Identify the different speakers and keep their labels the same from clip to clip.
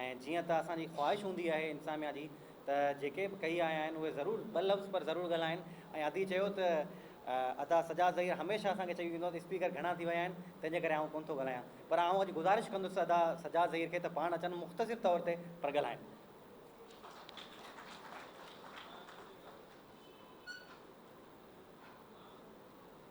Speaker 1: ۽ جيئن ته اسان جي خواهش هوندي آهي انتظاميا جي ته جيڪي به ڪهي آيا آهن اهي ضرور ٻه لفظ پر ضرور ڳالهائين ۽ ادي چيو ته ادا سجاد ظهير هميشه اسان کي چئي ويندو آهي ته اسپيڪر گهڻا ٿي ويا آهن تنهن جي ڪري آئون ڪونه ٿو ڳالهايان پر آئون اڄ گذارش ڪندس ادا سجاد ظهير کي ته پاڻ اچن مختصر طور تي پر ڳالهائين.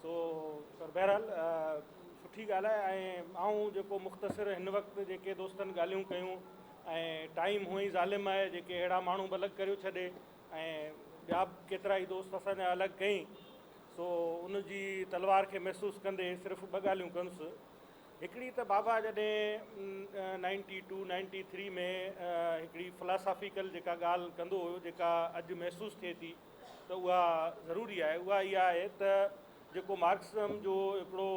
Speaker 2: سو سر بهرحال سٺي ڳالهه آهي ۽ آئون جيڪو مختصر هن وقت جيڪي دوستن ڳالهيون ڪيون ۽ ٽائيم هونئن ئي ظالم آهي جيڪي اهڙا ماڻهو به الڳ ڪريو ڇڏي ۽ ٻيا به ڪيترا ئي دوست اسان جا الڳ ڪئين سو ان جي تلوار کي محسوس ڪندي صرف ٻه ڳالهيون ڪنس هڪڙي ته بابا جڏهن نائنٽي ٽو نائنٽي ٿري ۾ هڪڙي فلاسافيڪل جيڪا ڳالهه ڪندو هيو جيڪا اڄ محسوس ٿئي ٿي ته اها ضروري آهي اها اها آهي ته جيڪو مارڪسزم جو هڪڙو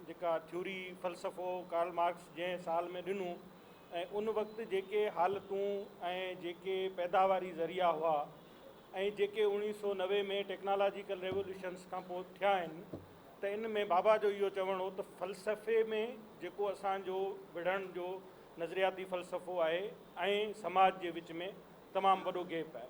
Speaker 2: جيڪا ٿيوري فلسفو ڪارل مارڪس جنهن سال ۾ ڏنو ۽ ان وقت جيڪي حالتون ۽ جيڪي پيداواري ذريعا هئا ۽ جيڪي اوڻيهه سو نوي ۾ ٽيڪنالاجيڪل ريولوشنس کان پوء ٿيا آهن ته ان ۾ بابا جو اهو چوڻ هو ته فلسفي ۾ جيڪو اسان جو وڙهڻ جو نظرياتي فلسفو آهي ۽ سماج جي وچ ۾ تمام وڏو گيپ آهي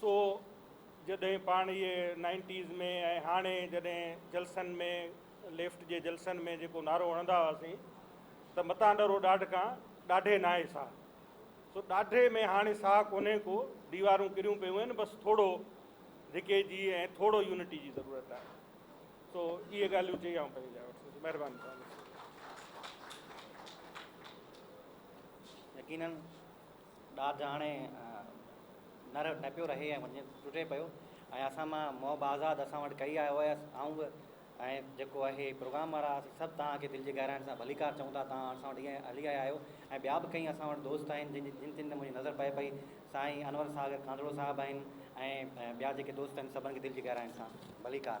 Speaker 2: سو جڏهن پاڻ اهي نائنٽيز ۾ ۽ هاڻي جڏهن جلسن ۾ ليفٽ جي جلسن ۾ جيڪو نعرو هڻندا هئاسين ته متان ڏرو ڏاڍ کان ڏاڍي ناهي ساهه سو ڏاڍي ۾ هاڻي ساهه ڪونهي ڪو ديوارون ڪريون پيون آهن بس ٿورو ڌڪي جي ۽ ٿورو يونٽي جي ضرورت آهي سو اهي ڳالهيون چئي آئون پنهنجي جاء وٺندس مهرباني يقينن
Speaker 1: ڏاڌ هاڻي نر نه پيو رهي ۽ وڃي ٽٽي پيو ۽ اسان مان محب آزاد اسان وٽ ڪري آيو هيس آئون به ۽ جيڪو اهي پروگرام وارا هئاسي سڀ توهان کي دل جي گهرائين سان ڀليڪار چئون ٿا توهان اسان وٽ ائين هلي آيا آهيو ۽ ٻيا به ڪئين اسان وٽ دوست آهن جن جن تن تي منهنجي نظر پئي پئي سائين انور ساگر ڪانڌڙو صاحب آهن ۽ ٻيا جيڪي دوست آهن سڀن کي دل جي گهرائين سان ڀليڪار.